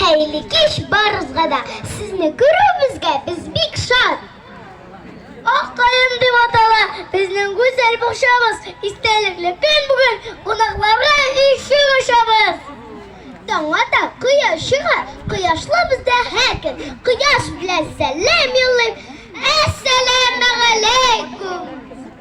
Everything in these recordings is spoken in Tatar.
Хәйле кеш барызга да сезне күрүебезгә без бик шат. Ак каен дип атала безнең гүзәл бакчабыз. Истәлекле көн бүген кунакларга ишек ачабыз. Таңга да кояш чыга, кояшлы бездә һәр көн. Кояш белән сәлам юллыйм. Әссәламәгаләйкүм.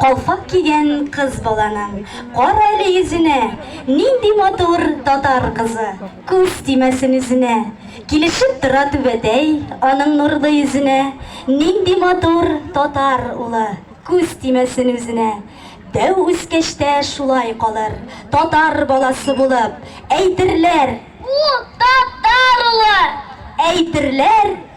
Калфак кигән кыз баланың, кара әле йөзенә, Нинди матур татар кызы, күз тимәсен үзенә. Килешеп тора түбәтәй аның нурлы йөзенә, Нинди матур татар улы, күз тимәсен үзенә. Дәү үскәч тә шулай калыр, татар баласы булып, Әйтерләр, Бу татар улы! Әйтерләр.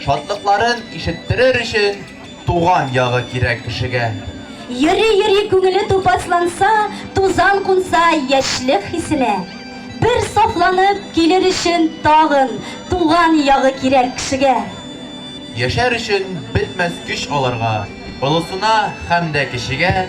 Шатлыкларын ишеттерер өчен туган ягы кирәк кешегә. Йөри-йөри күңеле тупасланса, тузан кунса яшьлек хисенә. Бер сафланып килер өчен тагын туган ягы кирәк кешегә. Яшәр өчен бетмәс көч аларга, олысына һәм дә кечегә.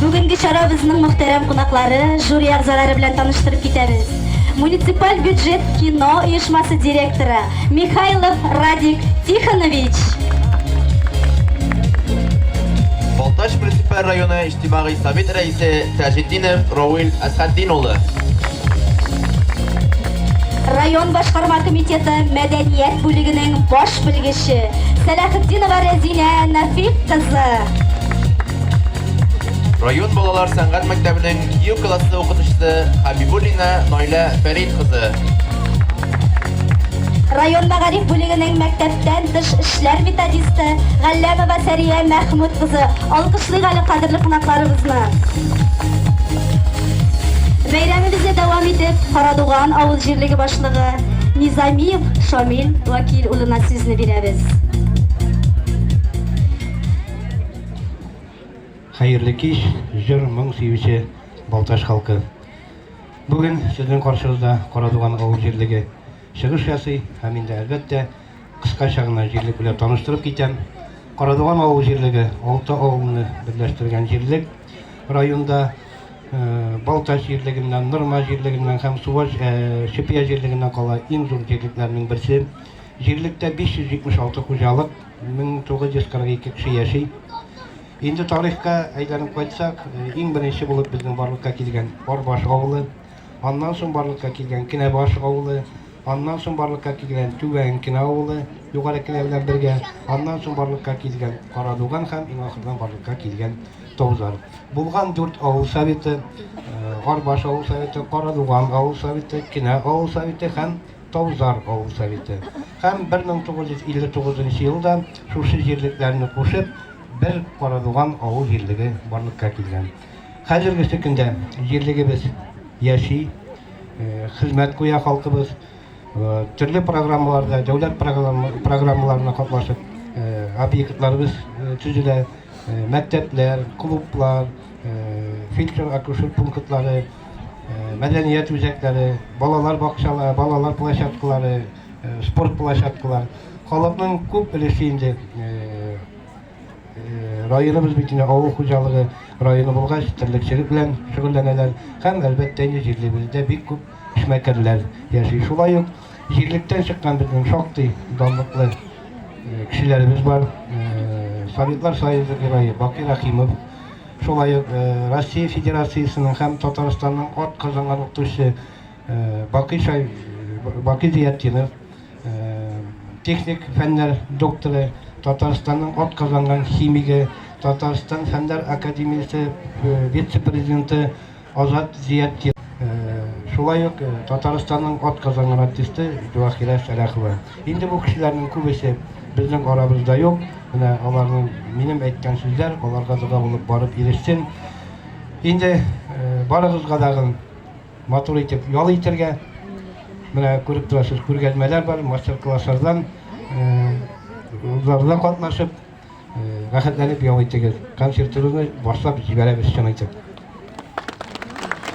Бүгенге чара безнең мөхтәрәм кунаклары, жюри әгъзалары белән таныштырып китәбез. Муниципаль бюджет кино оешмасы директоры Михайлов Радик Тихонович. Балтач муниципаль районы Иҗтимагый совет рәисе Таҗетдинов Равил Әсхәтдин улы. Район башкарма комитеты мәдәният бүлегенең баш белгече Сәләхетдинова Рәзинә Нафик кызы. Район балалар сәнгать мәктәбенең ю классы укытучысы Хабибуллина Найлә Фәрит кызы. Район мәгариф бүлегенең мәктәптән тыш эшләр методисты Галләмова Сәрия Мәхмүт кызы. Алкышлыйк әле кадерле кунакларыбызны. Бәйрәмебезне дәвам итеп, Карадуган авыл җирлеге башлыгы Низамиев Шамил Вакил улына сүзне бирәбез. Хәерле кич, җыр, моң сөюче Балтач халкы. Бүген сезнең каршыгызда Карадуган авыл җирлеге чыгыш ясый һәм инде, әлбәттә, кыскача гына җирлек белән таныштырып китәм. Карадуган авыл җирлеге, алты авылны берләштергән җирлек. Районда Балтач җирлегеннән, Нырма җирлегеннән һәм Сувач, Чепья җирлегеннән кала иң зур җирлекләрнең берсе. Җирлектә 576 хуҗалык, 1942 кеше яши. Инде тарихка әйләнеп кайтсак, иң беренче булып безнең барлыкка килгән Арбаш авылы, аннан соң барлыкка килгән Кенәбаш авылы, аннан соң барлыкка килгән Түбән Кенә авылы, Югары Кенә белән бергә, аннан соң барлыкка килгән Карадуган һәм иң ахырдан барлыкка килгән Тозар. Булган дүрт авыл советы, Арбаш авыл советы, Карадуган авыл советы, Кенә авыл советы һәм Таузар авыл советы һәм 1959 нчы елда шушы җирлекләрне кушып, бер Карадуган авыл җирлеге барлыкка килгән. Хәзергесе көндә җирлегебез яши, хезмәт куя халкыбыз, төрле программаларда, дәүләт программаларына катнашып, объектларыбыз төзелә, мәктәпләр, клублар, фельдшер-акушер пунктлары, мәдәният үзәкләре, балалар бакчалары, балалар площадкалары, спорт площадкалары. Халыкның күп өлеше инде районыбыз бит инде авыл хуҗалыгы районы булгач, терлекчелек белән шөгыльләнәләр. Һәм әлбәттә инде җирлебездә бик күп эшмәкәрләр яши. Шулай ук Җирлектән чыккан безнең шактый данлыклы кешеләребез бар. Советлар Союзы герое Бакый Рахимов, шулай ук Россия Федерациясенең һәм Татарстанның ат казанган укытучысы Бакый Шай Бакый Зиятдинов, техник фәннәр докторы, Татарстанның ат казанган химигы, Татарстан Фәннәр академиясе вице-президенты Азат Зиятдинов, шулай ук Татарстанның атказанган артисты Дюахирә Сәлахова. Инде бу кешеләрнең күбесе безнең арабызда юк. Менә аларның минем әйткән сүзләр аларга дога булып барып ирешсен. Инде барыгызга да матур итеп ял итәргә. Менә күреп торасыз, күргәзмәләр бар, мастер-класслардан, узларда катнашып, рәхәтләнеп ял итегез. Концертыбызны башлап җибәрәбез чын итеп.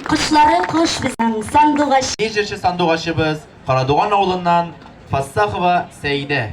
Кошлары кош безнең сандугач. Ди җырчы сандугачыбыз Карадуган авылыннан Фассахова Сәидә.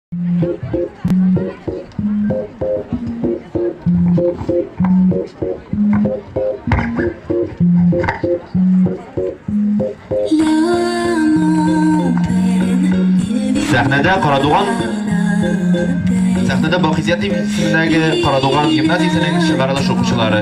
Сәхнәдә Карадуган Сәхнәдә Бакизят исемендәге Карадуган гимназиясенең чыгарылыш укучылары.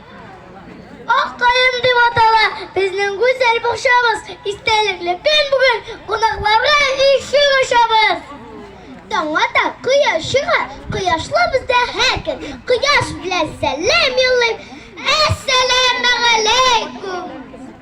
Ак каен дип атала безнең гүзәл бакчабыз. Истәлекле көн бүген кунакларга ишек ачабыз. Таңга да кояш чыга, кояшлы бездә һәркем. Кояш белән сәлам юллыйм. Әссәламәгаләйкүм!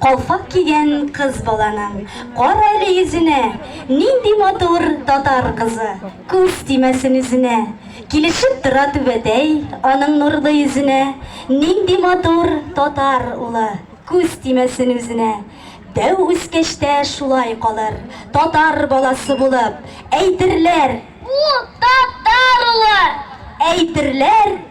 Калфак кигән кыз баланың, кара әле йөзенә, Нинди матур татар кызы, күз тимәсен үзенә. Килешеп тора түбәтәй аның нурлы йөзенә, Нинди матур татар улы, күз тимәсен үзенә. Дәү үскәч тә шулай калыр, татар баласы булып, Әйтерләр, бу татар улы, әйтерләр.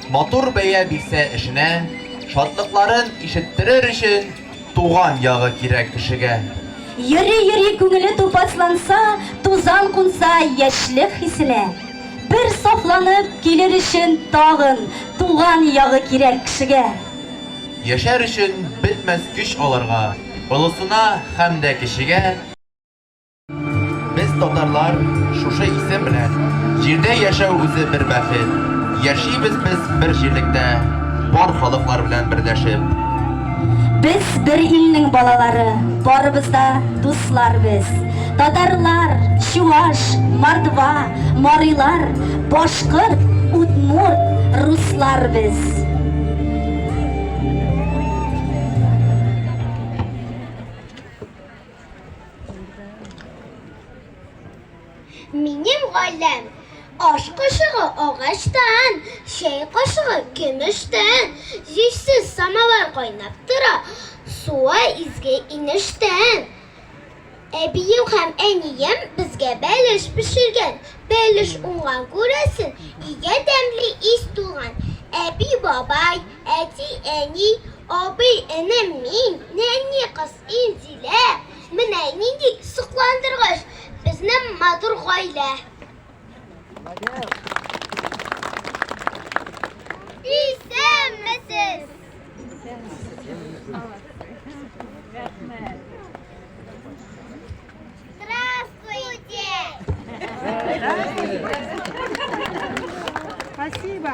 Матур бәя бирсә эшенә, шатлыкларын ишеттерер өчен туган ягы кирәк кешегә. Йөри-йөри күңеле тупасланса, тузан кунса яшьлек хисенә. Бер сафланып килер өчен тагын туган ягы кирәк кешегә. Яшәр өчен бетмәс көч аларга, олысына һәм дә кечегә. Без татарлар шушы исем белән. Җирдә яшәү үзе бер бәхет. Яшибез без бер җирлектә, бар халыклар белән берләшеп. Без бер илнең балалары, барыбыз да дуслар без. Татарлар, чуваш, мордва, марилар, башкорт, удмурт, руслар без. Минем гаиләм Аш кошыгы агачтан, чәй кошыгы көмештән, җирсез самавар кайнап тора, суы изге инештән. Әбием һәм әнием безгә бәлеш пешергән, бәлеш уңган күрәсен, өйгә тәмле ис тулган. Әби, бабай, әти, әни, абый, энем, мин, нәни кыз. Инзилә, менә нинди сокландыргыч, безнең матур гаилә. Исәнмесез! Рәхмәт. Спасибо.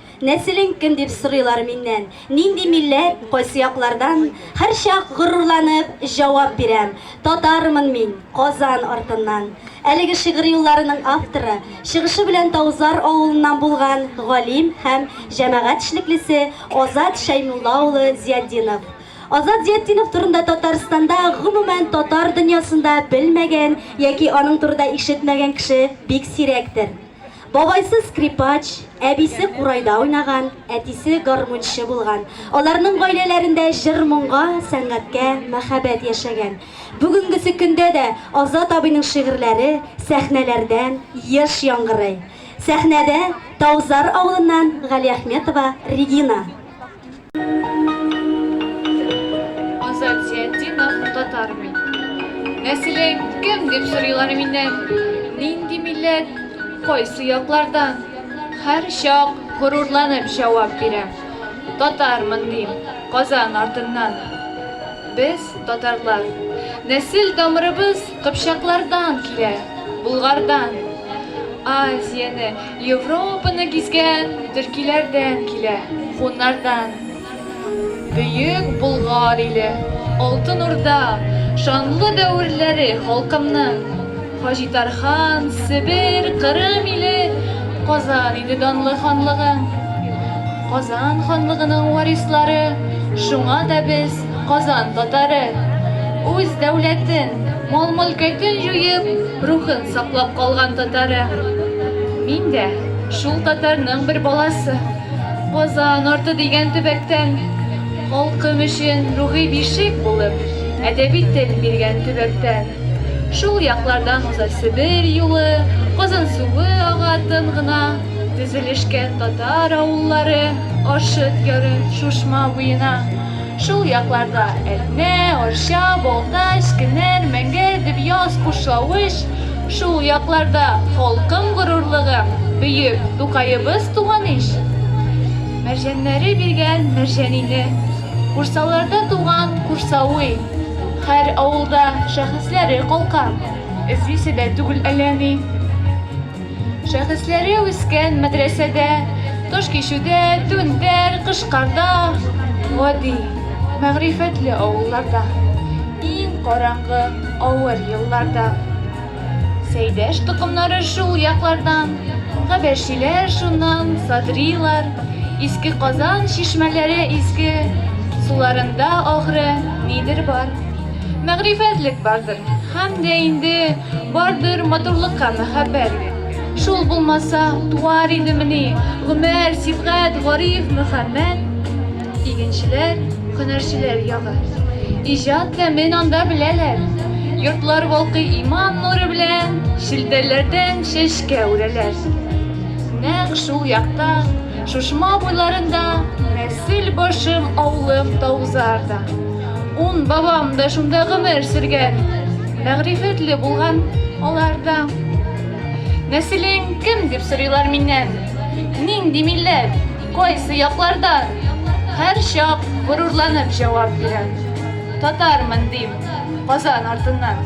Нәселең кем дип сорыйлар миннән, нинди милләт, кайсы яклардан, һәрчак горурланып җавап бирәм, татармын мин, Казан артыннан. Әлеге шигырь юлларының авторы, чыгышы белән Таузар авылыннан булган галим һәм җәмәгать эшлеклесе Азат Шәймулла улы Зиятдинов. Азат Зиятдинов турында Татарстанда, гомумән, татар дөньясында белмәгән яки аның турыда ишетмәгән кеше бик сирәктер. Бабайсы скрипач, әбисе курайда уйнаган, әтисе гармунчы булган. Аларның гаиләләрендә җыр-моңга, сәнгатькә мәхәббәт яшәгән. Бүгенгесе көндә дә Азат абыйның шигырьләре сәхнәләрдән еш яңгырый. Сәхнәдә Таузар авылыннан Галиәхметова Регина. Азат Зиятдинов, татар мин. Нәселең кем дип сорыйлар миннән. Нинди милләт, кайсы яклардан? Һәр чак горурланып җавап бирәм. Татармын дим, Казан артыннан. Без, татарлар, нәсел тамырыбыз Кыпчаклардан килә, Болгардан. Азияне, Европаны гизгән төркиләрдән килә, хуннардан. Бөек Болгар иле, Алтын Урда, шанлы дәверләре халкымның. Хаҗитархан, Себер, Кырым иле, Казан иде данлы ханлыгың. Казан ханлыгының варислары, шуңа да без. Казан татары үз дәүләтен, мал-мөлкәтен җуеп, рухын саклап калган татары. Мин дә шул татарның бер баласы. Казан арты дигән төбәктән, халкым өчен рухи бишек булып, әдәби тел биргән төбәктән. Шул яклардан уза Себер юлы, Казан суы ага тын гына, тезелешкән татар авыллары Аршыт яры, Шушма буена. Шул якларда Әтнә, Арча, Балтач, Кенәр, Мәңгәр, Дөбъяз, Кушлавыч, шул якларда халкым горурлыгым, бөек Тукаебыз туган ич! Мәрҗәннәре биргән Мәрҗәнине, Курсаларда туган Курсауи, һәр авылда шәхесләре калкан, эзлисе дә түгел әллә ни. Шәхесләре үскән мәдрәсәдә, Кыш кичүдә, түнтәр, кыш-карда, Гади, мәгърифәтле авылларда, Иң караңгы, авыр елларда. Сәйдәш токымнары шул яклардан, Габәшиләр шуннан, Садрилар, Иске Казан чишмәләре изге, Суларында, ахры, нидер бар. Мәгърифәтлек бардыр, һәм дә инде бардыр матурлыкка мәхәббәт. Шул булмаса, туар идемени Гомәр, Сибгат, Гариф, Мөхәммәт? Игенчеләр, һөнәрчеләр ягы. Иҗат тәмен анда беләләр. Йортлар балкый иман нуры белән, шелтәләрдән чәчкә үрәләр. Нәкъ шул якта, Шушма буйларында, нәсел башым, авылым, Таузар да. Ун бабам да шунда гомер сөргән, мәгърифәтле булган алар да. Нәселең кем дип сорыйлар миннән? Нинди милләт? Кайсы яклардан? Һәр чак горурланып җавап бирәм. Татармын дим, Казан артыннан.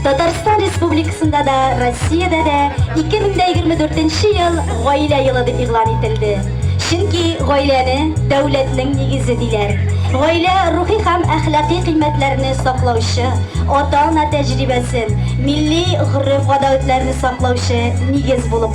Татарстан Республикасында да, Россиядә дә 2024 ел гаилә елы дип игълан ителде. Чөнки гаиләне дәүләтнең нигезе диләр. Гаилә рухи һәм әхлакый кыйммәтләрне саклаучы, ата-ана тәҗрибәсен, милли гореф-гадәтләрне саклаучы нигез булып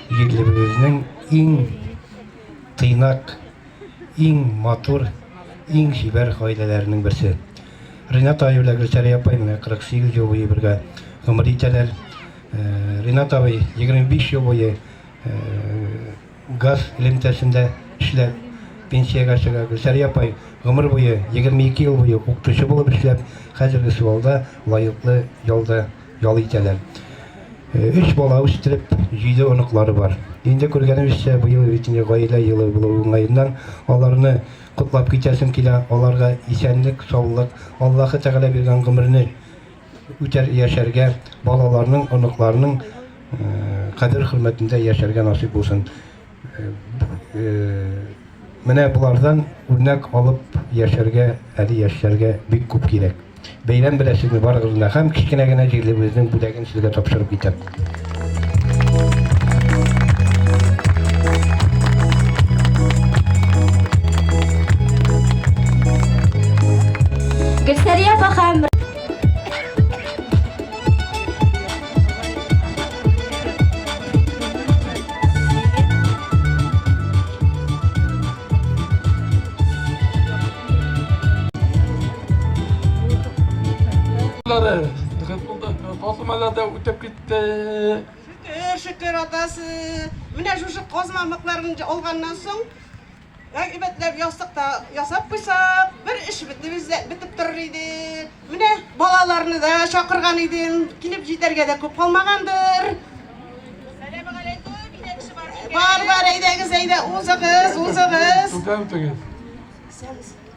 Егетлебезезнең иң тыйнак, иң матур, иң чибәр гаиләләренең берсе. Ринат абый белән Гөлсәрия апай менә 48 ел буе бергә гомер итәләр. Э, Ринат абый 25 ел буе э, газ элемтәсендә эшләп пенсиягә чыга. Гөлсәрия апай гомер буе 22 ел буе укытучы булып эшләп, хәзерге сылауда лаеклы ялда Ял итәләр. Өч бала үстереп, җиде оныклары бар. Инде күргәнебезчә, быел бит инде гаилә елы булу уңаеннан, аларны котлап китәсем килә, аларга исәнлек, саулык, Аллаһы Тәгалә биргән гомерне үтәр яшәргә, балаларның, оныкларның кадер-хөрмәтендә яшәргә насыйп булсын. Менә болардан үрнәк алып яшәргә әле яшьләргә бик күп кирәк. Бәйрәм белән сезне барыгызны һәм кечкенә генә җирлебезнең бүләген сезгә тапшырып китәм. Гөлсәрия апа һәм Казмаларда үтеп китте. Шөкер, шөкер атасы. Менә шушы казмамыкларын алганнан соң Әйбәтләп ястык та ясап куйсак, бер эш бетебез дә бетеп торыр иде. Менә балаларны да чакырган идем, килеп җитәргә дә күп калмагандыр. Бар, бар, әйдәгез, әйдә, узыгыз, узыгыз. Студент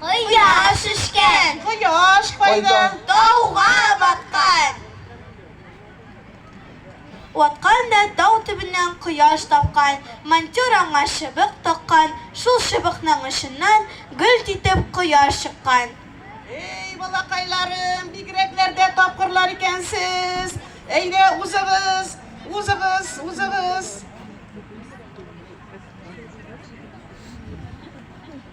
Кояш үшкән. Кояш кайда? Тауга баткан. Ваткан да тау төбеннән кояш тапкан, монтер аңа чыбык таккан, шул чыбыкның очыннан гөлт итеп кояш чыккан. Эй, балакайларым, бигрәкләр дә тапкырлар икәнсез. Әйдә, узыгыз, узыгыз, узыгыз.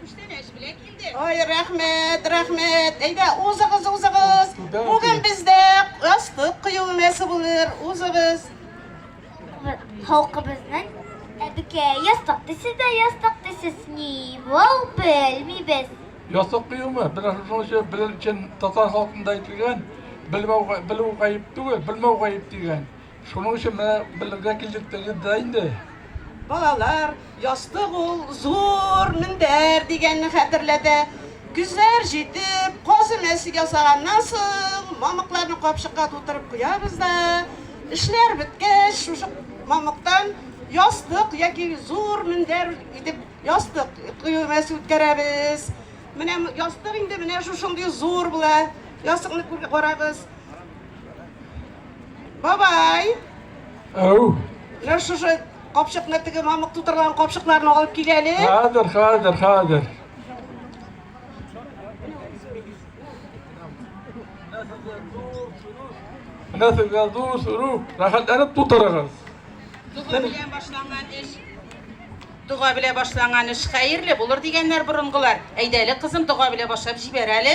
Күчтәнәч белән килде. Ой, рәхмәт, рәхмәт. Әйдә, узыгыз, узыгыз. Бүген бездә астык кою мәсе булыр. Узыгыз. Халкыбызның әбекә ястык дисез дә ястык дисез. Ни бул белмибез. Ястык кыюмы? Бер шуның өчен белер өчен татар халкында әйтелгән, белмәү белү гаеп түгел, белмәү гаеп дигән. Шуның өчен менә белергә килдек диде дә инде. Балалар, ястык ул зур мендәр дигәнне хәтерләтә. Көзләр җитеп, каз өмәсе ясаганнан соң, мамыкларны капчыкка тутырып куябыз да, эшләр беткәч, шушы мамыктан ястык яки зур мендәр итеп ястык кую өмәсе үткәрәбез. Менә ястык инде менә шушындый зур була. Ястыкны карагыз. Бабай! Ау! Менә шушы капчыкны теге мамык тутырган капчыкларны алып кил әле. Хәзер, хәзер, хәзер. Менә сезгә зур сору, рәхәтләнеп тутырыгыз. Дуга белән башланган эш. Дуга белән башланган эш хәерле булыр дигәннәр борынгылар. Әйдәле кызым, дуга белән башлап җибәр әле.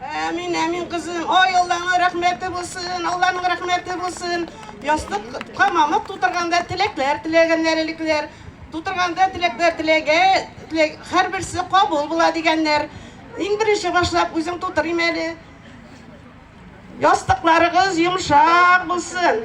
Әмин, әмин, кызым. Ой, Алланың рәхмәте булсын, Алланың рәхмәте булсын. Ястык камамык тутырганда теләкләр теләгәннәр элекләр. Тутырганда теләкләр теләгә, теләк, һәрберсе кабул була дигәннәр. Иң беренче башлап үзең тутырыйм әле. Ястыкларыгыз йомшак булсын.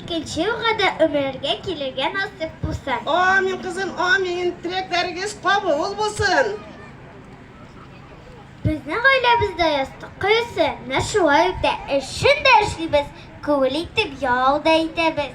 Икенче елга да өмрәлгә килергә насыйп булсын. Амин, кызым, амин. Теләкләрегез кабул булсын. Безнең гаиләбездә ястык кыюсы менә шулай үтә. Эшен дә эшлибез, күңел итеп ял да итәбез.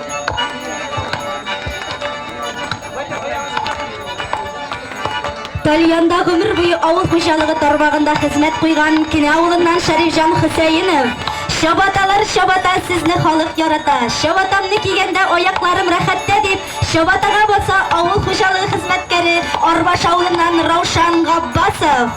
Тальянда гомер буе авыл хуҗалыгы тармагында хезмәт куйган Кенә авылыннан Шәрифҗан Хөсәенов. Чабаталар чабата сезне халык ярата. Чабатамны кигәндә аякларым рәхәттә дип, чабатага баса авыл хуҗалыгы хезмәткәре Арбаш авылыннан Раушан Габбасов.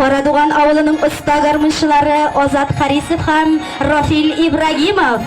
Карадуган авылының оста гармунчылары Азат Харисов һәм Рафил Ибрагимов.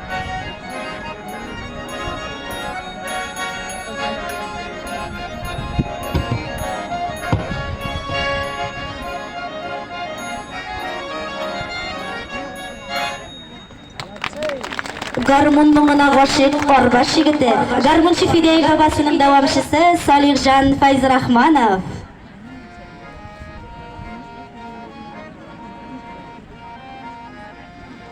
гармун моңына гашыйк Карбаш егете, гармунчы Фидәй бабасының дәвамчысы Салихҗан Файзрахманов.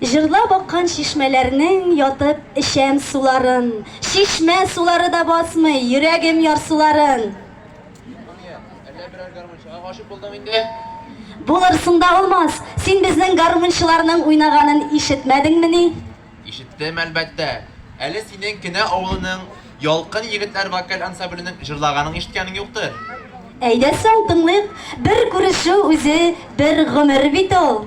Җырлап аккан чишмәләрнең ятып эчәм суларын, Чишмә сулары да басмый йөрәгем ярсуларын. Рания, әллә берәр гармунчыга гашыйк булдың инде? Булырсың да алмас, син безнең гармунчыларның уйнаганын ишетмәдеңмени? Ишеттем, әлбәттә. Әле синең Кенә авылының Ялкын егетләр вокаль ансамбленең җырлаганын ишеткәнең юктыр? Әйдә соң, тыңлыйк, бер күрешү үзе бер гомер бит ул.